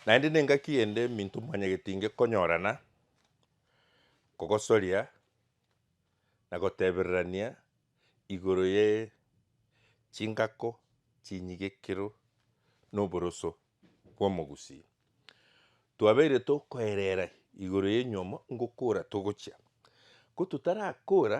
Naende nengaki ende eminto mwanyagete inge konyorana, kogosoria, na gotebererania igoro ye chingako chinyigekero noboroso bw'omogusii. Twabeire tokoerera igoro y'enywomo ngokora togochia. Ko totarakora,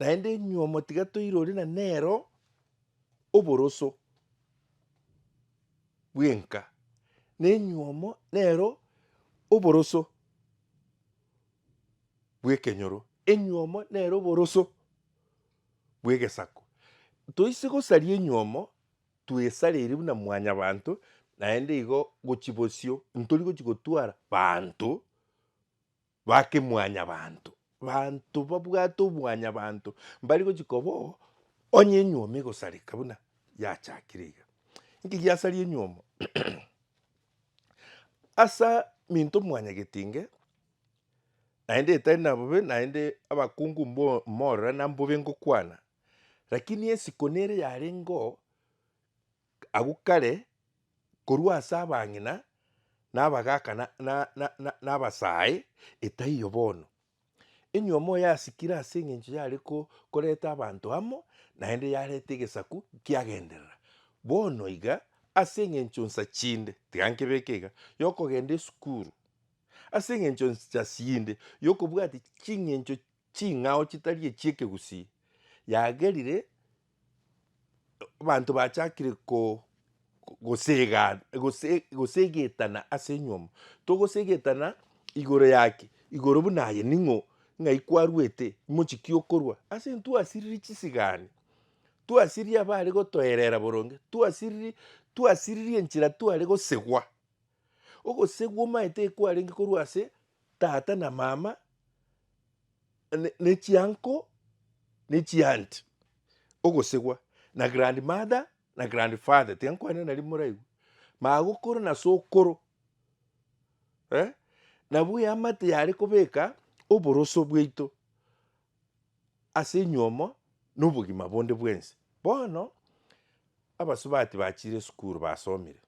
Naende enyuomo tiga toirori na nero oboroso bw'enka, na enyuomo nero oboroso bw'ekenyoro, enyuomo nero oboroso bw'egesako. Toise gosaria enyuomo, twesareiri buna mwanyabanto, naende igo gochia bosio ntori gochia gotwara banto. Bake mwanyabanto, banto babwate obwanyabanto mbari gochia koba oo, onye enyuomo egosareka buna yachakire iga. Inki giasaria enyuomo? Asa minto mwanyagetinge, naende etari na bobe, naende abakungu mbo- mborora na mbobe ngokwana, rakini esiko nere yarenge oo. Agwo kare, korwa ase abang'ina, na abagaaka, na, na, na, na, na abasae, etaiyo bono. Enywe omoyo yasikire ase eng'encho yare ko, koreta abanto amo, naende yareta egesaku kiagenderera. Bono iga, ase eng'encho nsa chinde, tiga nkebeke iga, yokogenda esukuru, ase eng'encho nsa chinde yokobwati ching'encho ching'ao chitari echiekegusii, yagerire Abanto bachakire ko- ko- gosegana gose gosegetana ase enyiomo, togosegetana igoro yaki, igoro buna aye ning'o, ng'ai kwarwete, mochie ki okorwa? Ase ntwasiriri chisigani, twasiriri abare gotoerera boronge, twasiriri twasiriri enchera tware gosegwa. Ogosegwa omaete ekwarenge korwa ase tata na mama ne chianko ne chianti ogosegwa na grand mother na grand father tiga nkwane nari moraigwe magokoro na sokoro eh nabu eamate yare kobeka oboroso bwaito ase enyiomo na obogima bonde bwensi bono abasubati bachire esukuru basomire.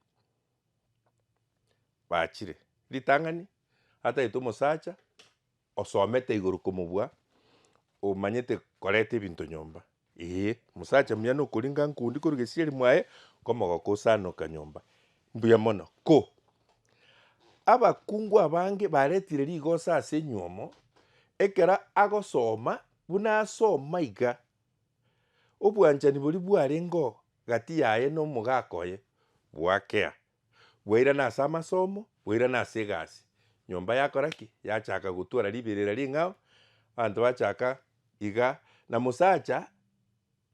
bachire. Ritang'ani ataete omosacha osomete igoro komobua omanyete koreta ebinto nyomba eeh omosacha muya nokoringa nkundi korwa gesieri mwaye komogoka osanoka nyomba mbuya mono ko. Abakungu abange baretire rigoso ase enywomo ekero agosoma buna asoma iga Obwanchani boria bwarengeo gati yaye nomogaaka oye bwakea, bwairana ase amasomo, bwairana ase egasi. Nyomba yakora ki? Yachaka gotwara riberera ring'ao, abanto bachaka iga, na mosacha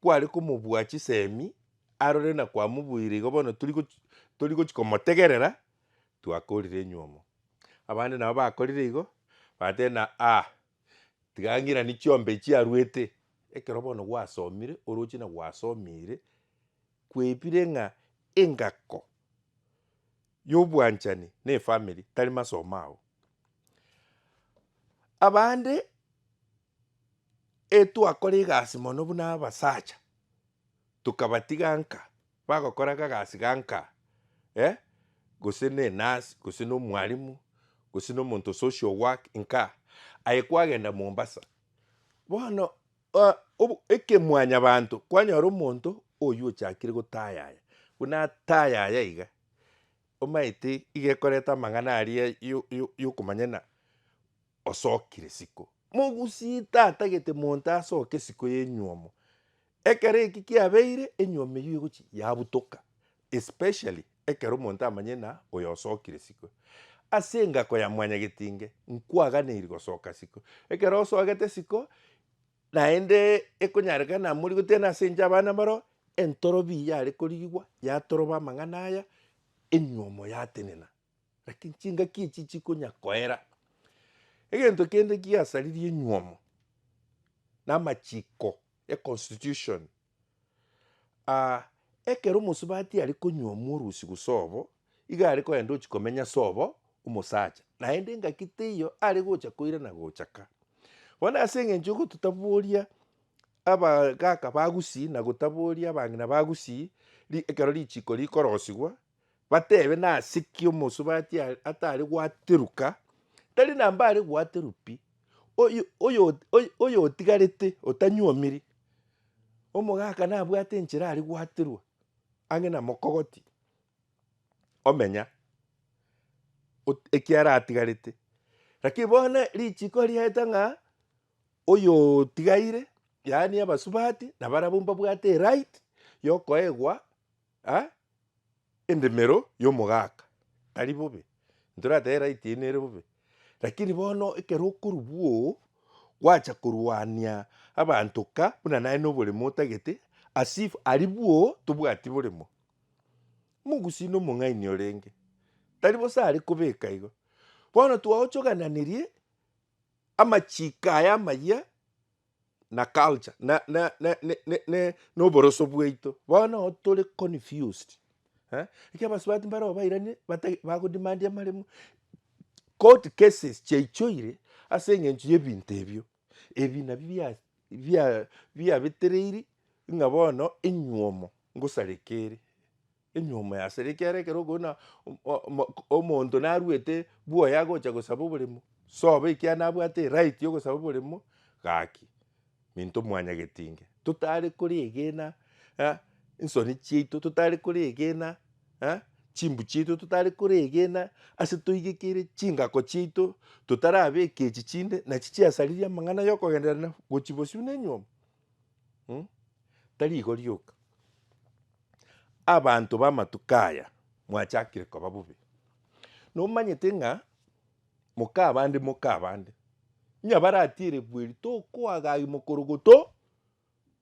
kware komobua chisemi arore na kwamobuire igo bono tori gochi tori gochi komotegerera twakorire enywomo. Abande nabo bakorire igo, bateba ng'a ah. Tiga ng'irani chiombe echio aruete, ekero bono gwasomire, oroche na gwasomiire, kwebire ng'a engako ya obwanchani na efamiri tari masomo ao. Abande etwakora egasi mono buna abasacha, tokabatiga nka. Bagokora akagasi ganka, eh, gose nenasi, gose nomwalimu, gose nomonto social work nka, aye kwagenda Mombasa, bono obo ekemwanyabanto kwanyora omonto oyio ochakire gotayaya, buna atayaya iga, omanyete iga ekoreta amang'ana aria yo- yo- yokomanyana osokire siko. Mogusie tata gete monto asoke siko ya enywomo, Ekero eki kiabeire enyuo meyio egochia yabutoka, especially ekero omonto amanyire na oyosokire siko. Ase engako ya mwanyagetinge, nkwaganeiri gosoka siko. Ekero osogete siko, naende ekonyarekana morigote na ase inche abana baroo, entorobi yare korigigwa yatoroba amang'ana aya, enyuomo yatenena. Lakini chingaki echi chikonya koera. Egento kende kigasaririe enyuomo namachiko e constitution ah ekero omosubati are konyuomwa orusi gose obo iga are kogenda gochi komenya ase obo omosacha naende engaki teiyo are gocha koira na gocha ka. Bono ase eng'encho gototaboria abagaka ba gusii na gotaboria abang'ina ba gusii ri ekero richiko rikorosigwa Batebe, Nase ki omosubati atare gwateruka? Tari na mbare gwateru pi, oyotigarete otanyuomiri. Omogaka nabwate enchera are gwaterwa ang'e na mokogoti, omenya ekiaratigarete. Lakini bono richiko riaeta ng'a oyotigaire, yaani abasubati, nabarabwo mbabwate eright yokoegwa Ha, endemero y'omogaka tari bobe, ntoratebe right eye nere bobe, lakini bono ekero okorwbu oo gwacha korwania abanto ka buna naye na oboremo otagete as if aribwo tobwati boremo. Omogusii na omong'aini orenge tari bosa are kobeka igo, bono twaochogananirie amachiko aya amayia. na culture na na na ne ne ne na oboroso bwaito bono nabo tore confused eh ekio abasubati mbare obairanie batagi bagodemandia amaremo court cases chiaichoire ase eng'encho y'ebinto ebio ebi nabi bia bia biabetereiri ng'a bono enywomo ngosareke ere. Enyuoma yase rikiera ekero okona omonto naruete bwoye agocha gosaba oboremo, sobe ekiagera nabwate right yogosaba oboremo, gaki minto mwanya getinge totare koregena nsoni chiaito totare koregena chimbu chiaito totare koregena ase toigekeire chingako chiaito totarabeka echi chinde nachi chiasaririe amang'ana yokogendererania gochia bosio na enyuoma tari igo rioka. Abanto b'amatuko aya mwachakire koba bobe. Nomanyete ng'a moka abande moka abande, onye baratiire bweri tokoagagi mokorogoto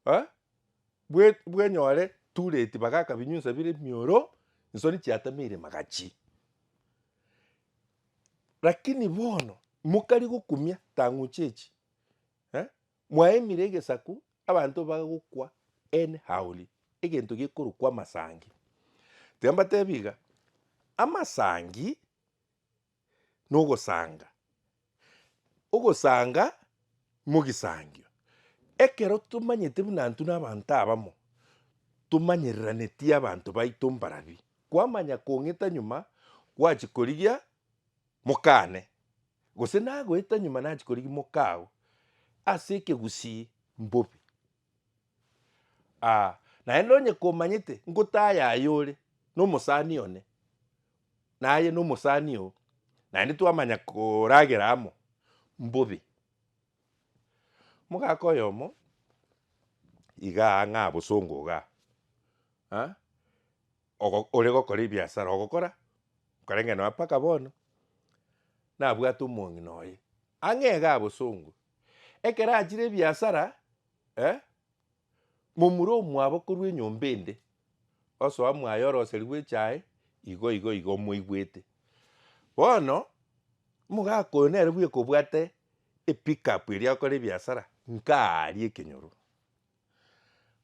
eh, bwe- bwenyore too late bagaka binyunsa bire emioro, ensori chiatameire magachi. Lakini bono mokarigokumia tang'uche echi eh. Mwaimire egesaku abanto bagokwa En Haoli, egento gekorokwa Amasangi. Tiga mbateebie iga, Amasangi nogosanga, ogosanga mogisangio. Ekero tomanyete buna intwe na abanto abamo, tomanyereranetie abanto baito mbaria, kwamanya kong'ita nyuma, gwachia korigia Mokaane, gose nagoeta nyuma nachia korigia mokao ase ekegusii mbobe. Aa, naende onye komanyete ngotaaya aye ore nomosani one, naye nomosani oo, naende twamanya koragera amo, mbobe. Mogaka oyomo igaa ng'a bosongo igaa, aa. ogo ore gokora ebiasara ogokora, nkorenge nonya mpaka bono, nabwate omong'ina oye, ang'e iga abosongwe. Ekero achire ebiasara, eh, momura omwabo korwa enyomba ende, osoa mwaye oroseri bw'echae, igo igo igo omoigwete. Bono, omogaka oyo nere bweka obwate epickup eria agokora ebiasara, nkaria ekenyoro,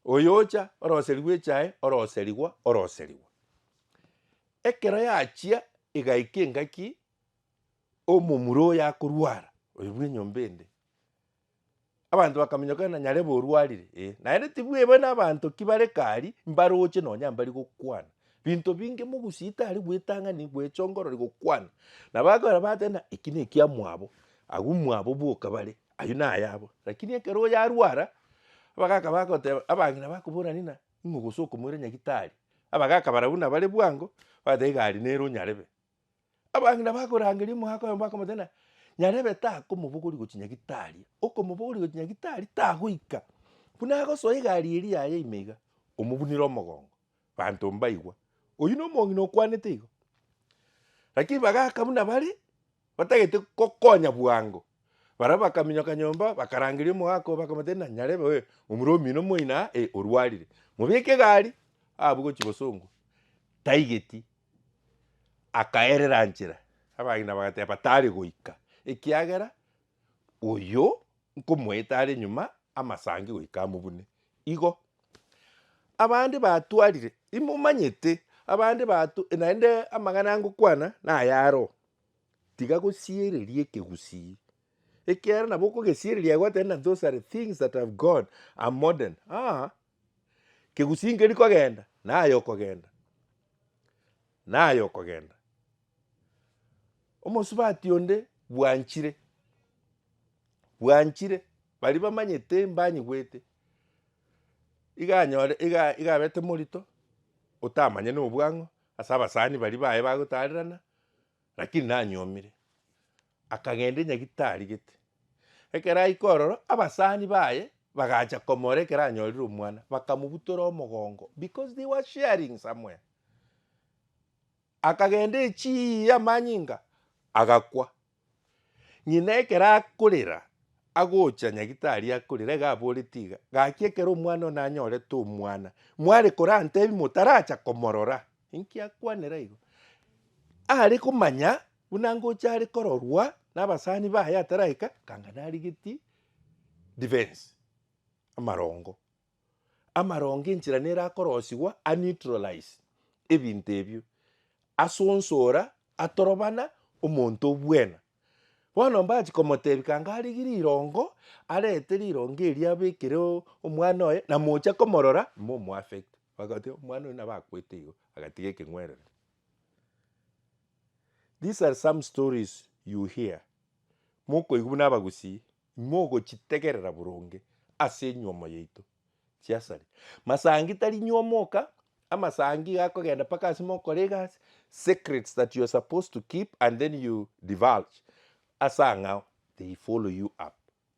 Oyoocha, oroserigwe echae, oroserigwa, oroserigwa. Ekero yachia egaika engaki omomura oyo akorwara, oyo bw'enyomba ende, abanto bakaminyoka ng'a nyarebe orwarire, eh, naende tibweba nabanto ki bare kari mbaroche nonya mbari gokwana. Binto binge mogusie tari bwetang'ani bwecha ongorore gokwana. Nabo akorora bateba ng'a eki nekiamwabo, agwo mwabo boka bare, Ayio nayabo, lakini ekero oyarwara, abagaka bagoteba, abang'ina bakobora ng'ina, ing'o gose okomoira nyagitari? Abagaka barabwo nabare bwango, bagoteba iga aria nere o Nyarebe. Abang'ina bakorangeria omoaka oye bakamotebia ng'a, Nyarebe takomobogoria gochia nyagitari, okomobogoria gochia nyagitari tagoika, buna agosoa egari eria yaye ime iga, omobunire omogongo. Banto mbaigwa, oyio nomong'ina okwanete igo. Lakini bagaka buna bare batagete gokonya bwango, baria bakaminyoka nyomba bakarangeria omogaka oo bakamotebia na nyarebe oye omura omino moino aa eh orwarire, mobeke egari abwe gochia gosongwa, taigeti, akaerera nchera, abagima bagateba tari goika ekiagera Oyio nkomoeta are nyuma amasangi goika amobune. Igo abande batwarire, imomanyete abande batu, naende amang'ana angokwana nayaro, tiga gosiereria ekegusii, ekiagera nabo okogesiereria gwateba those are the things that have gone are modern aa, kegusii nkerikogenda naye okogenda, naye okogenda. Omosubati onde bwanchire, bwanchire, baria bamanyete mbanyigwete, iga anyore iga iga abete morito, otamanya na obwang'u ase abasani baria baye bagotarerana, lakini nanyomire, akagenda enyagita tarigete, ekero aika ororo, abasani baye bagacha komora ekero anyorire omwana, bakamobutora omogongo, because they were sharing somewhere. Akagenda echii y'amanyinga, agakwa. Ng'ina ekero akorera, agocha nyagitari akorera, iga aboretie iga, Gaki ekero omwana one anyorete omwana, mware korantebi motaracha komorora? Inki akwanera igo? Are komanya buna ngocha are kororwa nabasani baye ataraika, akang'ana arigetie defense, amarongo. Amarongo enchera nere akorosigwa a neutralize ebinto ebio, asonsora, atorobana omonto obwena. Bono mbachi komotebia kanga arigie rirongo, arete rirongo eria abekere omwana oye na mocha komorora mo omo affect. Bagoteba omwana oyo nabo akwete igo, agatiga ekeng'werere. These are some stories you hear, mokoigwa buna abagusii. Imogochitegerera boronge ase enyuomo yaito chiasare. Masangi tari nyuomo oka, amasangi iga akogenda mpaka ase mokore egasi, secrets that you are supposed to keep and then you divulge ase ang'ao, they follow you up.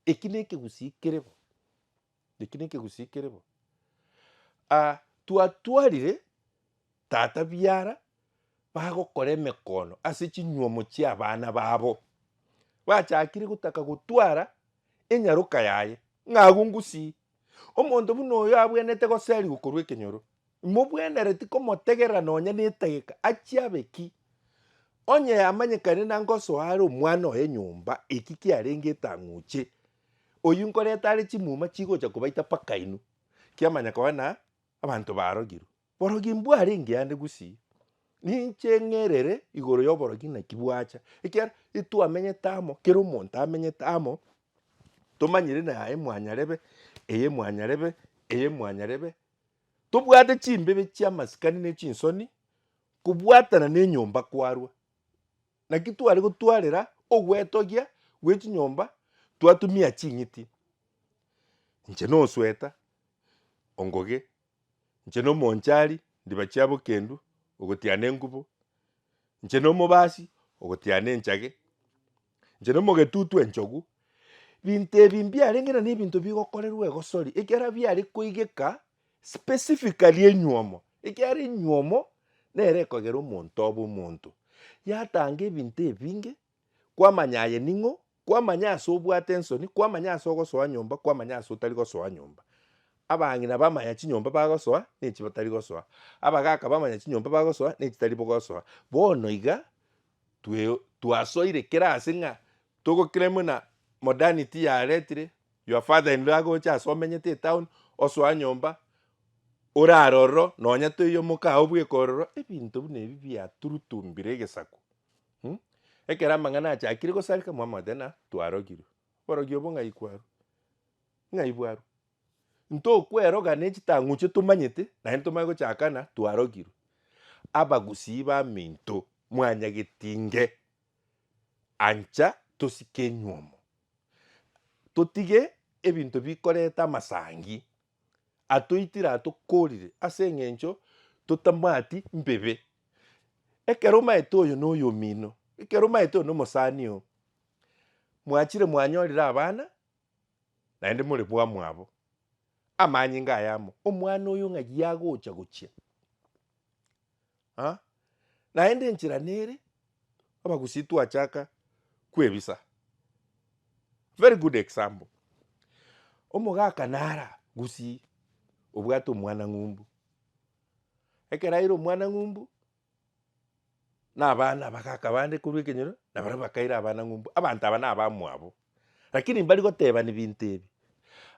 Eki nekegusii kere bo. Eki nekegusii kere bo. Aa twatwarire tata biara bagokora emekono ase chinyuomo chiabana babo. Bachakire gotaka gotwara enyaroka yaye ng'a agwo ngusii. Omonto buna oyo abwenerete goserigwa korwa ekenyoro, imobwenereti komotegerera nonya netageka achie abe ki? Onye yamanyekane nangosoa are omwana oye nyomba, eki kiarenge etang'uche. Oyio nkorete are chimuma chigocha kobaita mpaka inwe, kiamanya koba na abanto barogirwe. Borogi mbwarenge ande gusii, ninche ng'erere igoro y'oborogi naki bwacha, ekiagera etwamenyete amo, kera omonto amenyete amo, tomanyire na yaye mwanyarebe, eye mwanyarebe, eye mwanyarebe, tobwate chimbibe chi'amasikani ne chinsoni, kobwatana ne enyomba kwarwa. Naki tware gotwarera ogwetogia gwe chinyomba twatumia ching'iti, inche nosweta, ongoge, inche nomonchari, ndiba chia bokendu, ogotiana engubo, inche nomobasi, ogotiana enchage, inche nomogetutu enchogu. Binto ebi mbiarenge nabinto bigokorerwa egosori, ekiara biare koigeka Specifically enyuomo, ekiagera enyuomo nere ekogera omonto obe omonto. Yatanga ebinto ebinge, kwamanya aye ning'o, kwamanya ase obwate ensoni, kwamanya ase ogosoa nyomba, kwamanya ase otari gosoa nyomba. Abang'ina bamanya chinyomba bagosoa ne echio batari gosoa, abagaka bamanya chinyomba bagosoa ne chitari bogosoa. Bono iga twe twasoire kera ase ng'a togokira muna modernity yaretire, Your father in law agocha ase omenyete etown osoa nyomba orare ororo nonya toiyo mokaa obweka ororo ebinto buna ebi biaturutumbire egesaku mh ekero amang'ana achakire gosareka mwamaete na twarogirwe. Oborogi obo ng'ai kwarwa? Ng'ai bwarwa? Ntokweroga ne chitang'uche tomanyete naende tomanye gochakana twarogirwe. Abagusii baminto mwanyagetinge. Ancha tosike enyuomo, totige ebinto bikoreta amasangi atoitire atokorire ase eng'encho totamwati mbibe. Ekero omaete oyo na oyo omino, ekero omaete oyo na omosani oo, mwachire mwanyorire abana naende more bwamwabo, amanyinga aya amo, omwana oyo ng'ai agocha gochia. ah, naende enchera nere abagusii twachaka kwebisa. Very good example, omogaka nara gusii obwate omwana ng'umbu, ekero aire omwana ng'umbu na abana abagaka bande korwa ekenyoro nabaria bakaira abana ng'umbu, abanto aba nabamwabo, lakini mbari gotebani binto ebi.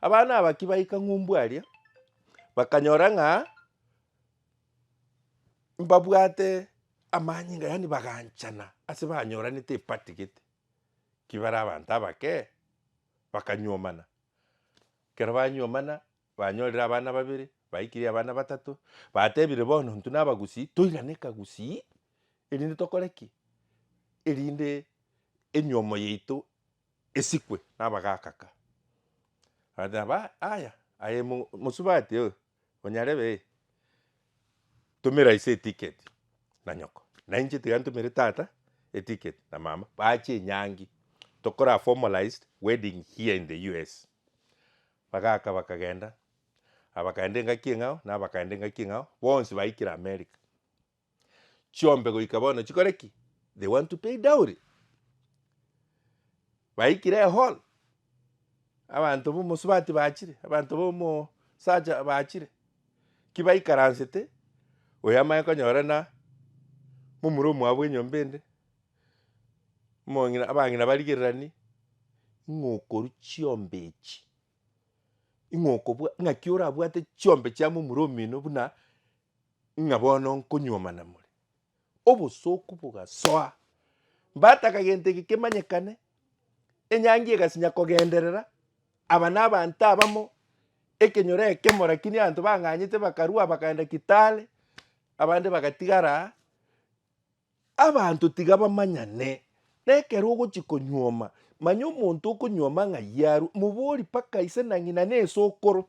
Abana aba ki baika ng'umbu aria bakanyora ng'a mbabwate amanyinga, yaani baganchana ase banyoranete epati gete, ki bare abanto abake, bakanyuomana. Ekero banyuomana banyorire abana babere, baikirie abana batato, batebire bono intwe na abagusii toirane ekagusii erinde tokore ki? erinde enyuomo yaito esikwe na abagaka ka. Bateba aya, aye mo- mosubati oyo. Onyarebe eh, tumera ise etiketi na nyoko, na inche tiga ntumere tata etiketi na mama, bachie enyangi tokore a formalized wedding here in the US. Bagaaka bakagenda, abakaenda engaki eng'ao na abakaenda engaki eng'ao, bonsi baikire America. chiombe goika bono chikore ki? They want to pay dowry. Baikire ehall, abanto b'omosubati bachire, abanto b'omosacha bachire, ki baikaransete, oyo amanye konyora na momura omwabo bw'enyomba ende, omong'ina abang'ina barigereranie, ng'a okorwa chiombe echi, ng'a okobwa ng'aki orabwate chiombe chia momura omino buna ng'a bono nkonyuoma namore. Obosooku bogasoa. Mbataka gento eke kemanyekane, enyangi egasinya kogenderera, aba nabaanto abamo, ekenyoro ekemo rakini abanto bang'anyete bakarua bakaenda Kitale, abande bagatigara aa. Abanto tiga bamanyane, na ekero ogochia konyuoma, manya omonto okonyuoma ng'ai arwe, mobori mpaka ise na ng'ina na esokoro.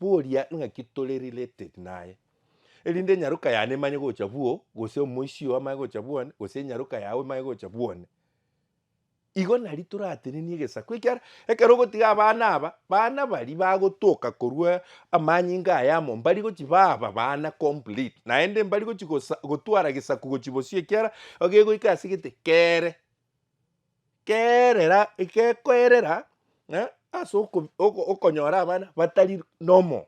boria ng'aki tore related naye, erinde enyaroka yane emanye gocha bwoo, gose omoisio oo amanye gocha bwone, gose enyaroka yago emanye gocha bwone. Igo nari toratenenie egesaku ekiara, ekero ogotiga abana aba, bana baria bagotoka korwa amanyinga aya amo, mbari gochi baba bana complete, naende mbari gochi gosa gotwara gesaku gochi bosio ekiara, egegoika ase egete kere. Kerera, gekoerera ng'a ase oko oko okonyora abana batari normal,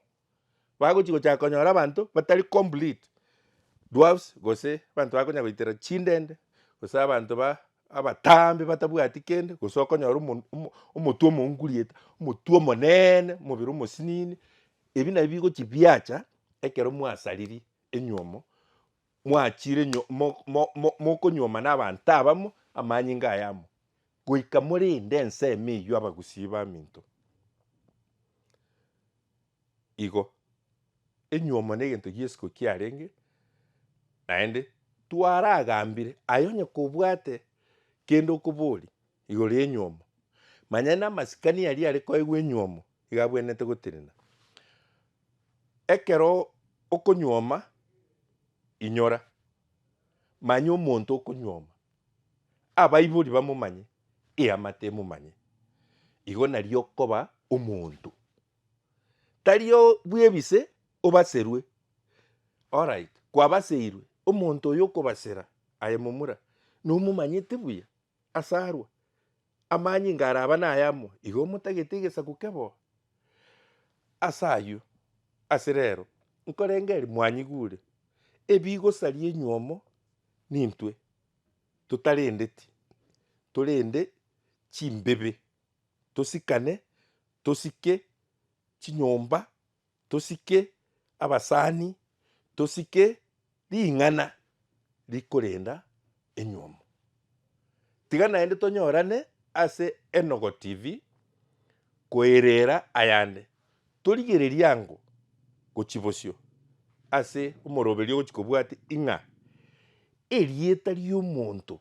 bagochi gochaka konyora abanto batari complete, dwarfs gose abanto bakonya goitera chindende, gose abanto ba abataambe batabwati kende, gose okonyora omo omo omotwe omounguriete, omotwe omoneene, omobere omosinini, ebi nabio bigochi biacha ekero mwasaririe enyiomo. Mwachire nyo, mo, mo, mo, mokonyuoma n'abanto abamo amanyinga aya amo, goika morinde ensemo eyio abagusii baminto. Igo, enyuomo negento gi'esiko kiarenge, naende twaragambire aye onye kobwate kende okoboria igoro y'enyuomo, manya namasikani aria are koegwa enyuomo iga abwenerete gotenena. Ekero okonyuoma, inyora, manya omonto okonyuoma, abaibori bamomanye, eamate emomanye, igo nario okoba omonto. Tari o- bw'ebise obaserwe, alright, kwabaseirwe, omonto oyo okobasera aye momura, nomomanyete buya ase arwa, Amanyinga araba nay'amo igo motagete egesaku kebo ase ayio. Ase rero, nkorengeria mwanyigure, ebigosaria enyuomo nintwe totarendeti, torende chimbibe, tosikane, tosike chinyomba Tosike abasani, tosike ring'ana rikorenda enyomo. Tiga naende tonyorane ase Enogo TV koereera ayande, torigererie ango gochia bosio ase omoroberio ogochia kobwate ing'a erieta ri'omonto.